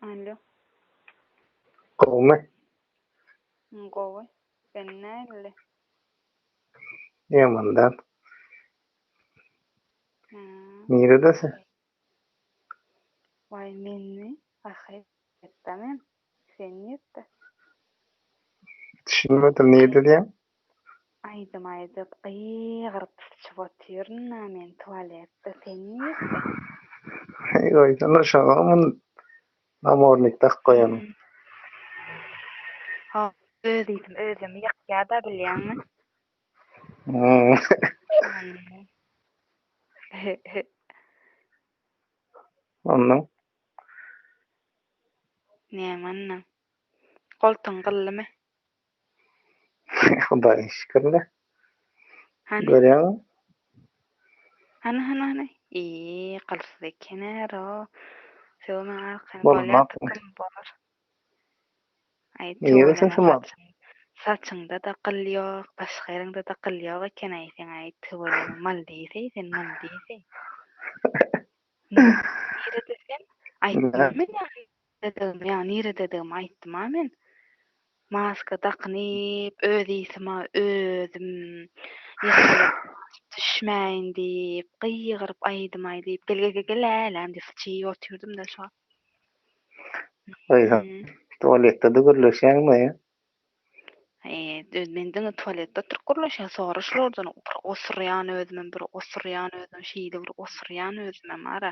Alo. Gowmy? Gowy. Sen nähili? Ýamandan. Ha. Nirede sen? Waý menmi? Ahyretde men. Sen nirde? Düşünmedim nirde diýen? Aýdym aýdyp gygyryp syçyp otyryn-a men tualetde sen nirde? Heý goýsana şoňa mun namornik dakyp goýanyň. Ho öz iýdim özümi ýakýada bilýäňmi? Onda. Näme ondan? Goltuň gyllymy? Hudaýa şükür-le. Hany? Görýäňmi? Hany, hany, hany? Eý, gylsyz eken-ä, ro. Söw maňa arkaýyn, bolýardyk kim bolar. Aý, tüweleme, saçyňda-da gyl ýok, başga ýeriňde-de gyl ýok eken-aý seň, aý, tüweleme, maldiseý sen, maldiseý. Nire desem, aýtdym men ýa-ni dedigimi, ýa nire dedigimi aýtdym-a men. Maska dakynyp, öz ysym-a özüm düşmäýin diýip, gygyryp aýdym-aý diýip, gel-ge-ge-ge-lä-läm diýip, syçyp otyrdym-da şo wagt. Aýha, tualetde-de gürleşýäňmi? Eee men diňe tualetde oturyp gürleşýän sora şulardan bir osurýan özümem bir osurýan özümem şeýle bir osurýan özümem ara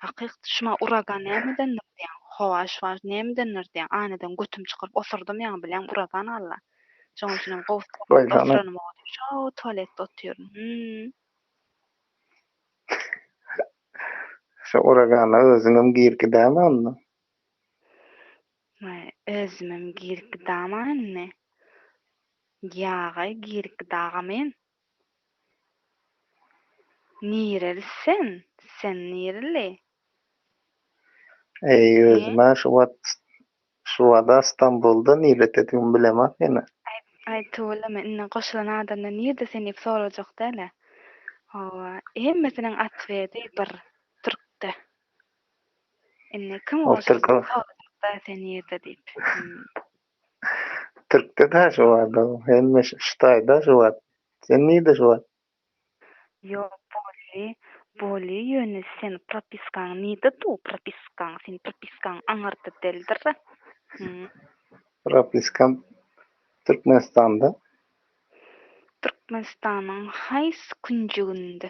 hakyk şuma uragan nämedendir diýýän howa şuwa nämedendir diýýän aýnadan götüm çykaryp osurdym ýaňy bilýän uragan alla şoň üçinem gowsy şoo tualetde otyryn hümm. Şu uragana özüňem girgi däl onda. Ýa özümem girik gidama indi? Ýa-aý girik gidaga men? Nireli sen? Sen nireli? Eý, özüm-ä şu wagt, şu wada Stambulda nirededigimi bilemok ýene. Aý, tüweleme, indi goşulan adamdan nirede sen diýip sorajak däl-ä. Hawa, hemmesiniň otwedi bir, türkde. Indi kim Ol türk ol. sorjak-da sen nirde diýip. Türkde-dä şu wagt ol. Hemme şu Hytaýda şu wagt. Sen nirde şu wagt? Ýok, bolýi, bolýi, ýöne sen propiskaň nirde du, propiskaň? Seň propiskaň aňyrda däldir. Hü. Propiskam Türkmenistanda. Türkmenistanyň haýsy künjeginde?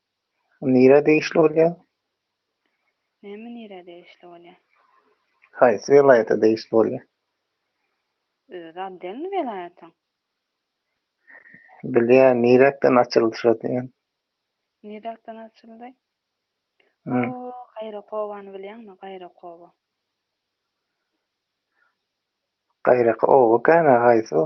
Nirä degişli bolýar? Näme nirä degişli bolýar? Haýsy welaýata degişli bolýar? Özi otdelniý welaýatyň. Bilýän, niräkden açyldy şo diýen. Niräkden açyldy? Bu Gaýrakobany bilýäňmi, Gaýrakoba? Gaýrakoba kän-ä haýsy o?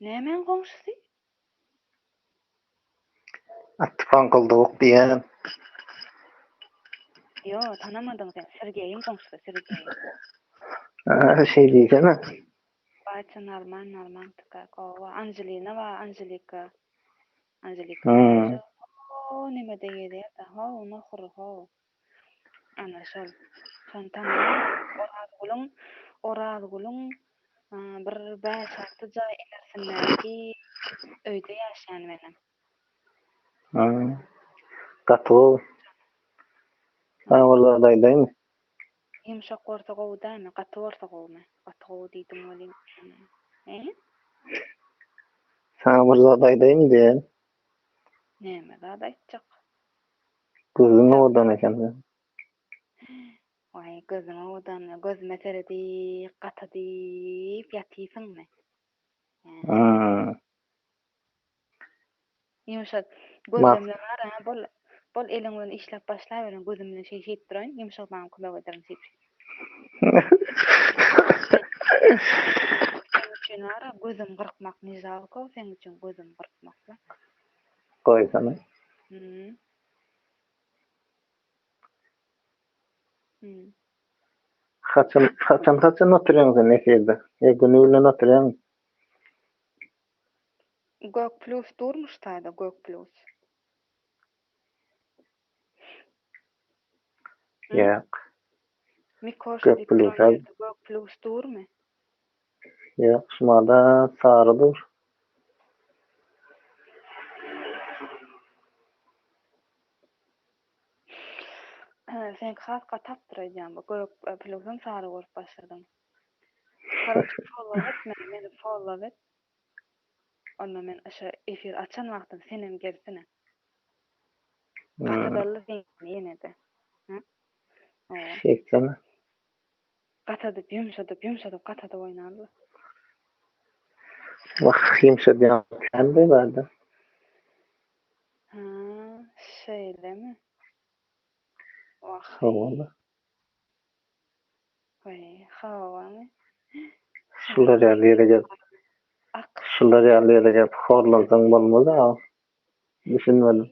Nämäň goňşusy? Atdy paňkyldawuk diýýän. Ýo, tanamadyň sen. Sergeýiň goňşusy, Sergeý. Aa, şeý diýsene. Batja Narman, Narmantyka, gowa. Anželina bar, Anželika. Anželika. Hoo, nemede gezýär-de. Hoo, nohur, hoo. Ana şol. Şony tanaýan Orazgulyň Orazgulyň bir bäş-alty jaý ilersindäki öýde ýaşaýan welin. Hä. Gaty gowy. Saňa bir zat aýdaýmy? Ýumşak bolsa gowy dämi? Gaty bolsa gowumy? Gaty gowy diýdim welin. He? Saňa bir zat aýdaýmy diýen. Näme zat aýtjak? Gözüň owadan eken seniň. Waý, gözüň owadan, gözüme seredip, gata diýip ýatysyňmy? Hä. Ýumşak gözlemle bar-a, bol, bol eliň bilen işläp başlaweriň, gözüm bilen şeý-şeýip duraýyn, ýumşak daňyp kömek ederin şeýp-şeýp. Seň üçin wara gözüm gyrkmak ne žalko seň üçin gözüm gyrkmakmak. Goýsana. Hmm. Hmm. Haçan haçan haçan oturýaň sen efirde? Ýa güni bilen oturýaňmy? Gök plus durmuşda-da gök plus. Ýok. Mikoş Gök diýip duran plusa- ýerde gök plus durmy? Ýok, şumada sary dur. Hä, seňki has gatapdyr aýdýan bu gök e, plusam sary görüp başladyň. Karoçe follow et meni, meni follow et. Onda men şo efir açan wagtym senem gelsene. Gatadalli seni ýenede. Hä? Owa. Şeýtsene. Gatadyp, ýumşadyp, ýumşadyp gatadyp oýnarly. Wah, ýumşadýan kände bada. Hä, şeýlemi? Wah. Hawa. Şular ýaly ýere gelip, şular ýaly ýere gelip horlansaň bolmaz a. Düşünmedim.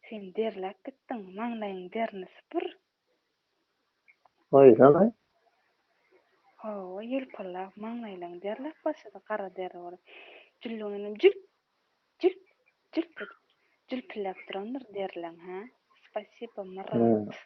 Sen derläp gitdiň, maňlaýyň derini süpür. Goýsana. Hawa, ýylpyldap maňlaýlaň derläp başlady gara deri bolup. Jülleň inem jülp, jülp, jülp edip jülpüldäp durandyr derileň, hä? Spasiba, Myrat.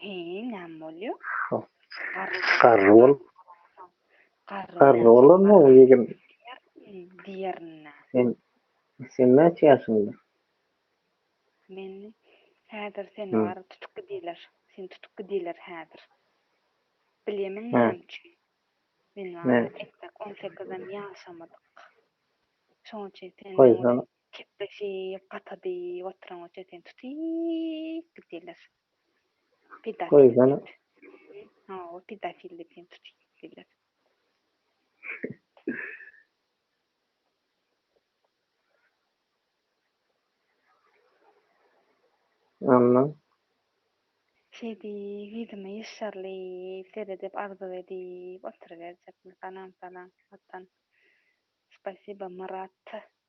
Heý, näme bolýar? Garry bolup. Garry bolanmy bu ýigim? Diýerin-dä. Sen, sen näçe ýaşyňda? Men, häzir seni bar, tutup gidiler. Seni tutup gidiler häzir. Bilýämiň näme üçin? Men wara tek-tek on sekizem ýaşamadyk. Şonuň üçin seni olar kepleşip, gata diýip oturan üçin seni tutup gidiler. Pedofil. Ha, o pedofil diýip hem tutup gitdiler. Anna. Şeý diýip, ýüzüme ýyşşarlyp seredip, arzuw edip oturyberjekmi? Salam, salam, watan. Spasiba, Myrat.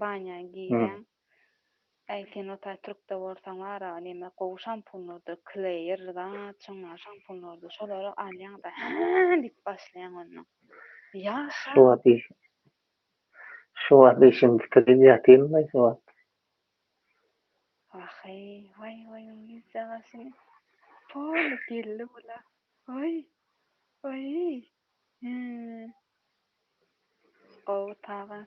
Banýa girýäň. Äý sen otay türkde bolsaň bara neme gowy şampunlardyr kleýer zat şonlar şampunlardyr şolary alýaň da hää diýip başlaýaň onnoň. Ýaşa. Şu wagt işimi bitirip ýatyn laý şu wagt. Waheý waý waý onuň ýüz çyrasyny poly geldi bula waý waý hää gowy taban.